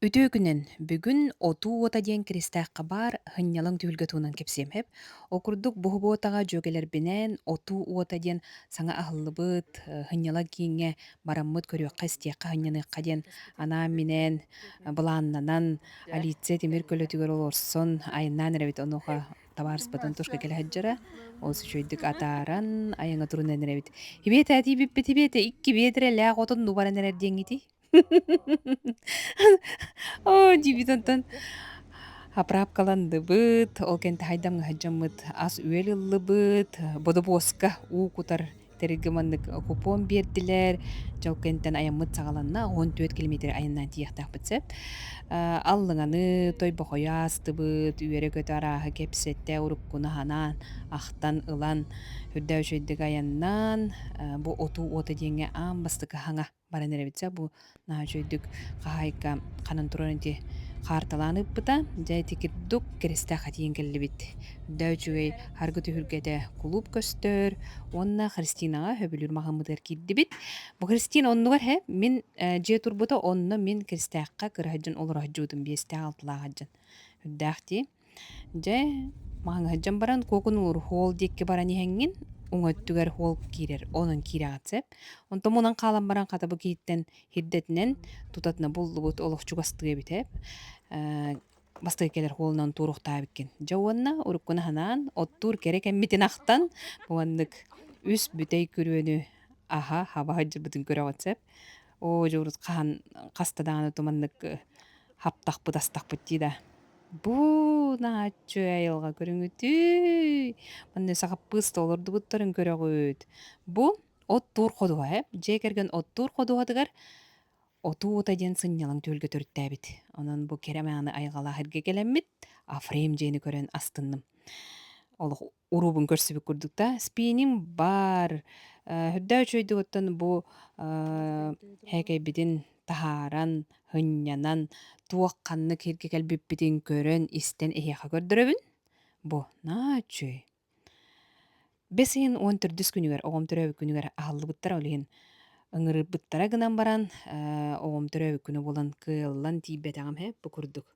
Үтүөкүнэн бүгүн «Отуу уота» диэн киристээххэ баар һынньалаҥ түһүлгэ туһунан кэпсиэмэп. Ол курдук буһубуотаҕа дьүөгэлэрбинээн «Отуу уота» диэн саҥа аһыллыбыт, э, һынньалаҥ кииҥҥэ бараммыт көрүөххэ-истиэххэ, һынньаныахха диэн анаан-минээн былааннанан Алиция Тимир көлөтүгэр олорсон айаннаан эрэбит. Онуоха табаарыспытын тушка кэлэ сылдьара. Олус үчүгэйдик атааран, айаҥҥа турунан эрэбит. Һибиэтэ, этии бүппүт һибиэтэ, икки биэдэрэлээх отон нуу баран эрэр диэҥҥитий? Оо, диэбит онтон Абраапкаландыбыт, ол кэннэ таһайдамҥа сылдьаммыт ас-үөл ыллыбыт, бодобуоска уу кутар тэрилгэ маннык купон биэрдилэр. Дьэ ол кэнниттэн айаммыт саҕаланна, он түөрт километр айаннаан тиийиэхтээхпит сөп. Э, аллыҥаны тойбохойу аастыбыт, үөрэ-көтө арааһы кэпсэтэ, уруккуну санаан, ахтан, ылан, үрдээ үчүгэйдик айаннаан, э, бу отуу уота диэҥҥэ аан бастакы хаҥа. баран эрэбитсэ бу наһаа үчүгэйдик хаһаайка ханан турарын ити хаарталаан ыыппыта. Дьэ ити курдук киристэх этийэн кэллибит. Үрдээ үчүгэй аргы түһүлгэтэ кулууп көстөр уонна Христинаҕа сөбүлүүр маҕыммытыгар киирдибит. Бу Христина оннугар иһэ мин э, дьиэ турбута онно мин киристээххэ кыра сылдьан олоро сылдьыбытым биэстээх алтылаах сылдьан. Үрдээх дии. Дьэ, маһыҥ сылдьан баран куокунуур хоол диэкки баран иһэҥҥин, уҥа өттүгэр хоол киирэр, онон киириэҕин сөп. Онтон мунан хаалан баран хата бу киһиттэн хирдэтинэн тутатына буллубут олох чугастыы эбитэ. бастакы кэлэр хоолунан туоруохтаабиккин. Дьэ уонна уруккуну санаан оттуур кэрэ кэммитин ахтан маннык үс бүтэй күрүөнү аһа хаба сылдьарбытын көрөҕүн сөп. оо дьэ урут хаһан хаста даҕаны ото маннык хаптахпыт астахпыт дии да. Бу нааччы айылҕа көрүҥүтүй? Манна сахаппыыс да олордубуттарын көрөҕүт. Бу оттуур ходуһа ээ. Дьиэ кэргэн оттуур ходуһатыгар отуу ута диэн сынньалаҥ түөлгэ төрүттээбит. Онон бу кэрэ мааны айылҕалаах эргэ кэлэммит Африм дьиэни көрөн астынным. Олох уруубун көрсүбүт курдук да спиним баар үрдээ үчүгэйдик бу һээкэйбитин таһааран һынньанан туох ханнык иһиргэ кэлбиппитин көрөн истэн эһиэхэ көрдөрөбүн бу на үчүгэй бэс ыйын уон төрдүс күнүгэр оҕом төрөөбүт күнүгэр аһыллыбыттара ол иһин ыҥырыппыттара гынан баран оҕом төрөөбүт күнэ буолан кыаллан тиийбэтэҕим үһү бу курдук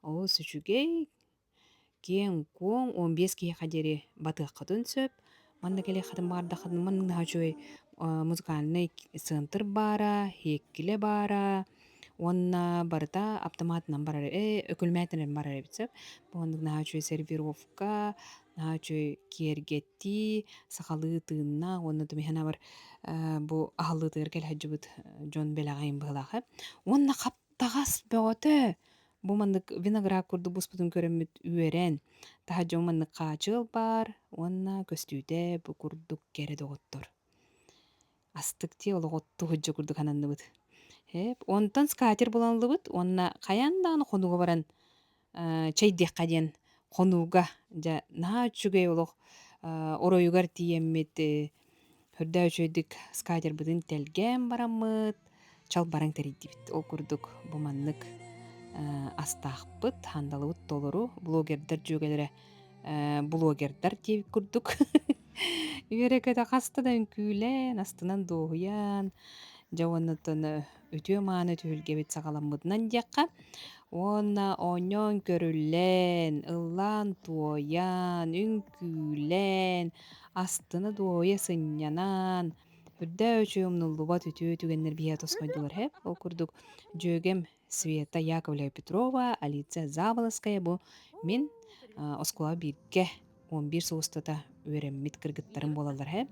Олус үчүгэй, киэҥ-куоҥ, он биэс киһиэхэ диэри батыаххытын сөп. Манна кэлиэххитин баҕардаххытына, манна үчүгэй музыкальнай центр баара, һиэккилэ баара уонна барыта аптамаатынан барар, өкүлмээтинэн барар эбит сөп. Бу оннук наһаа үчүгэй сервировка, наһаа үчүгэй киэргэттии, сахалыы тыыннаах уонна бу аһыллыытыгар кэлэ сылдьыбыт дьон бэлэҕин быһыылаах эбит. Уонна Таҕас бөҕөтө, бу маннык виноград курдук буспутун көрөммүт үөрэн, таһа дьон маннык хаачыал баар уонна көстүүтэ бу курдук кэрэ доҕоттор. Астык дии олох отту сылдьа курдук сананныбыт. Эп, онтон скатер булан ыллыбыт уонна хайаан даҕаны хонуга баран чэй диэххэ диэн хонууга дьэ наһаа үчүгэй олох оройугар тиийэммит көрдөөх үчүгэйдик скатербытын тэлгээн бараммыт чалбаран тэрийдибит ол курдук бу маннык астаахпыт хандалыбыт толору блогердар дьүөгэлэрэ блогердар диэбит курдук үөрэ-көтө хаста да үҥкүүлээн астынан дуоһуйан дьэ уонна үтүө-мааны түһүлгэбит саҕаламмытынан диэххэ, уонна оонньоон көрүллэн, ыллаан-туойан, үҥкүүлээн, астына-дуоһуйа сынньанан, үрдөөччү умнуллубат үтүө түгэннэр биһиэхэ тосхойдулар үһү. Ол курдук дьүөгэм Света Яковлева-Петрова, Алиция Заболоцкая бу мин оскуолаҕа бииргэ он биир сыл устата үөрэммит кыргыттарым буолаллар эһэ.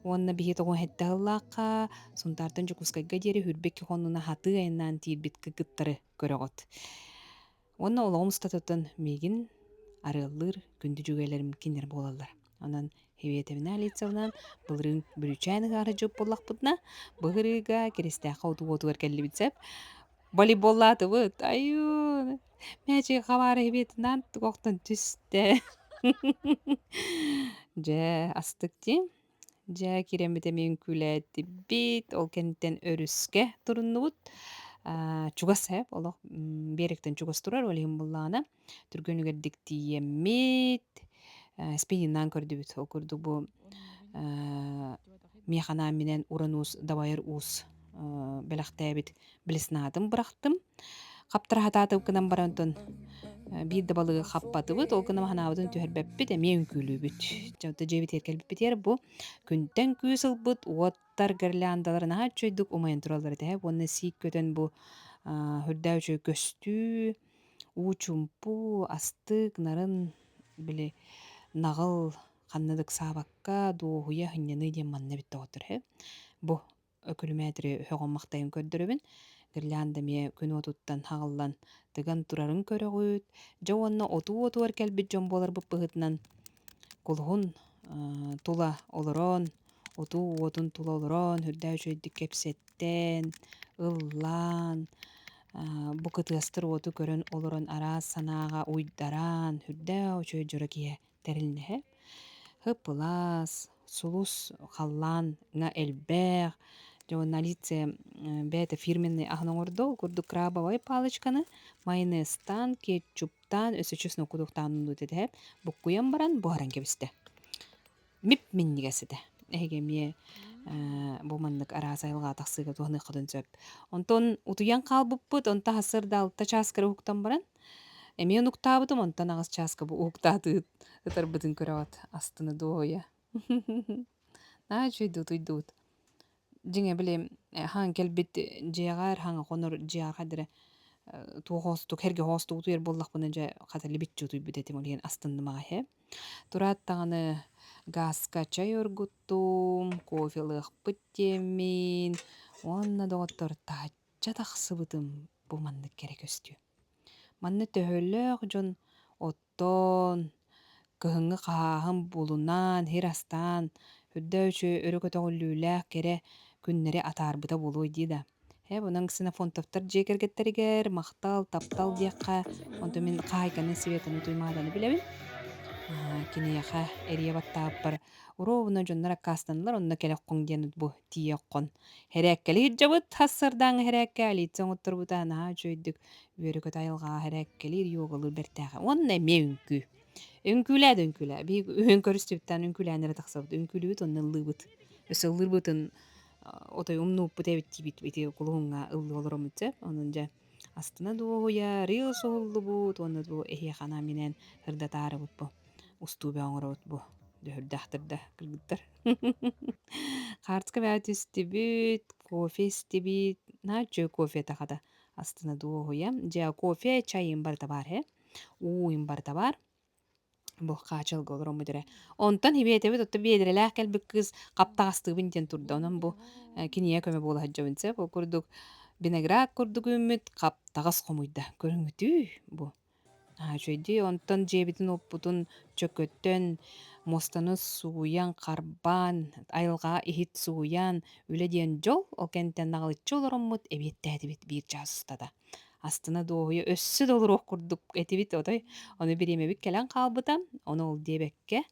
Уонна биһи тоҕо хэттэ сыллаахха Сунтаартан Дьокуускайга диэри хүрбэкки хоннуна хатыы айаннаан тиийбит кыргыттары көрөҕүт. Уонна олоҕум устатыттан миигин арыаллыыр күндү дьүгэлэрим кинилэр буолаллар. Онон Хиветовна Лицевна былырыын бүрүчээн ыгаары дьоп буллахпытына, быһырыыга Киристээххэ утугуотугар кэллибит сеп. волейболлаатыбыт айуу мээчиги хабаары хибиэтинээн тугохтон түстэ дьэ астык дии дьэ кирэммит эмиэ үҥкүүлээтибит ол кэнниттэн өрүскэ туруннубут чугас ээ олох биэрэктэн чугас турар ол иһин буоллаҕына түргөнүгэрдик тиийэммит спининнаан көрдүбүт ол курдук бу миэханаан минэн уран уус дабайыр уус бэлэхтээбит блеснаатын бырахтым хаптара хатаатыбыкынан баран тон биир да балыгы хаппатыбыт ол гына маһанаабытын түһэрбэппит эмиэ үҥкүүлүүбүт дьэбитэ дьиэбит кэлбиппитигэр бу күнтэн күүс ылбыт уоттар гирляндаларын аһа үчүөйдүк умайан тураллар этэ уонна сиик көтөн бу үрдээ үчүгэй көстүү уу-чумпу, астык, нарын били наҕыл ханна да ыксаабакка дуоһуйа сынньаныы диэн манна эбит доҕоттор үһү. Бу өкүлүмээтири өһөҕүм-махтайым көрдөрөбүн. Гирлянда эмиэ күн уотуттан саҕыллан тыган турарын көрөҕүт. Дьэ уонна отуу-отуур кэлбит дьон буоларбыт быһыытынан кулуһун тула олорон, утуу уотун тула олорон, үрдээ үчүгэйдик кэпсэттэн, ыллаан, бу кытыастыр уоту көрөн олорон араас санааҕа уйдаран, үрдээ үчүгэй дьоро киһи тэрилинэһэ. Һып-ылаас, сулус халлааҥҥа элбэх. Журналиция бэйэтэ фирменный аһын оҥордо, ол курдук крабовай палочканы, майонезтаан, кетчуп Таан өссө честно кутуктаан дуу дэһэ буккуйан баран буһаран кэбистэ. Мип миннигес этэ. Эһиги эмиэ бу маннык араас айылҕа тахсыыга туһаныаххытын сөп. Онтон утуйан хаалбыппыт, онто аһсыр да алта чаас кыра уһуктан баран, эмиэ унуктаабытым, онтон аҕыс чааска бу уһуктаатыы ытарбытын көрөҕүт астына дуоһуйа. Наһаа үчүгэйдик утуйдубут. Дьиҥэ били хаһан кэлбит дьиэҕэр хаһан хонор дьиэҕэ диэри туох оҕустук эргэ оҕустук утуйар буоллахпына дьэ хата либиччэ утуйбут этим ол иһин астыннымаҕа иһэ. Тураат даҕаны гааска чай оргуттум, кофе ылыахпыт диэммин уонна доҕоттор таачча тахсыбытым бу маннык кэрэ көстүү. Манна төһөлөөх дьон Тоон, кыһыҥҥы хаһааһын буолунан, иһир астаан, үрдэ үчү өрө көтөҕүллүүлээх кэрэ күннэри атаарбыта буолуой дии да. Ээ бу онон Ксенофонтовтар дьиэ кэргэттэригэр «Махтал, таптал» диэххэ, онтон мин хаһаайканы Светаны Туймааданы билэбин. Аа, киниэхэ эрийэ баттааппар «Уруобуна дьоннор аккаастаналар онно кэлэххоҥ» диэн бу тиийэххун. Эрээккэли иһирдьэбит, ас сардааҥы эрээккэ Алиция оҥотторбута наһаа үчүгэйдик үөрү кыта айылҕаҕа эрэ эккэлиир йогалыыр бэртээхэ. Уонна эмиэ үҥкүү. Үҥкүүлээ да үҥкүүлээ. Биһиги көрүстүбүттээн үҥкүүлээн эрэ тахсабыт. Үҥкүүлүүбүт онно ыллыыбыт. Өссө ыллыырбытын отой умнууппут эбит диибит ити кулуһуҥҥа ыллыы олороммут дьэ. Онон дьэ астына дуоһуйа рил суһуллубут уонна бу эһиэхэ анааминээн ырдатаарыбыт бу устуубэ оҥоробут бу дөхүрдээх да кыргыттар. Хаартыска бэҕэ түстүбүт, кофе истибит. Нааччы кофета хата астына дуоһуйа дьэ кофе чайым бар табаар һэ ууйум бар табаар булхаачылга олором бүтэрэ онтон хибиэтэбит отто биэдэрэлээх кэлбит кыыс хаптаҕастыыбын диэн турда онон бу кинигэ көмө буола сылдьабын сөп ол курдук виноград курдук үүммүт хаптаҕас хомуйда көрүҥүтүй бу Үчүгэйдии онтон дьиэбитин уоппутун чөкөттөн муостаны сууйан, харбаан, айылҕаҕа иһит сууйан, үлэ диэн дьол, ол кэнниттэн наҕылыччы олороммут эбиэттээтибит биир чаас устата. Астына-дуоһуйа өссө да олоруох курдук этибит отой, ону бириэмэбит кэлэн хаалбыта, ону ол диэбэккэ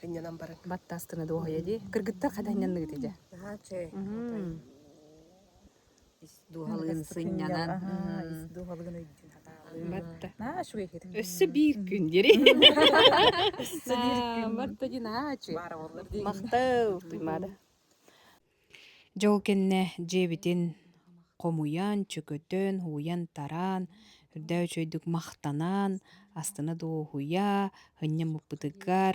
Хынньанан баран. Баттаастына дуоһуйа дии. Кыргыттар хата хынньанныгыт дьэ. Наһаа үчүгэй. Ис дуоһалыын сынньанан. Ис дуоһалыын өйдүүн хатаалыын. Матта. Наһаа үчүгэй хитин. Өссө биир күн дири. Өссө биир күн. Матта ди наһаа үчүгэй. Баара боллар дии. Махтал, туймада. Дьэ ол кэннэ дьиэбитин хомуйан, чөкөтөн, уйан-тараан, үрдээ үчүгэйдик махтанан, астына да уоһуйа, һынньан муппутугар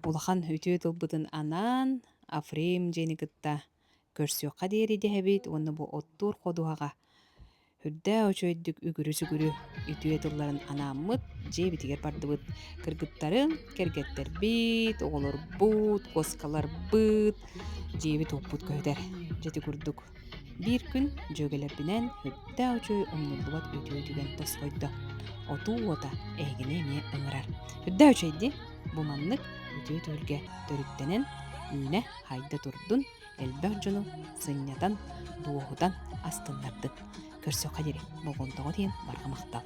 улахан үтүө тылбытын анаан Африм дьиэни кытта көрсүөххэ диэри дэһэбит уонна бу оттуур ходуһаҕа үрдээх үчүгэйдик үгүрү-сүгүрү үтүө тылларын анааммыт, дьиэбитигэр бардыбыт кыргыттарын, кэргэттэрбит, оҕолорбут, куоскаларбыт, дьиэбит-уоппут көһүтэр. Дьэти курдук биир күн дьүөгэлэрбинэн үрдээх үчүгэй умнуллубат үтүө түгэн тосхойдо. Отуу уота эһигини эмиэ ыҥырар. Үрдээх үчүгэй бу маннык үтүө түһүлгэ төрүттэнэн үүнэ-хайда турдун, элбэх дьону сынньатан, дуоһутан астыннардык, көрсүххэ диэри болҕомтоҕо тиийэн барҕа махтал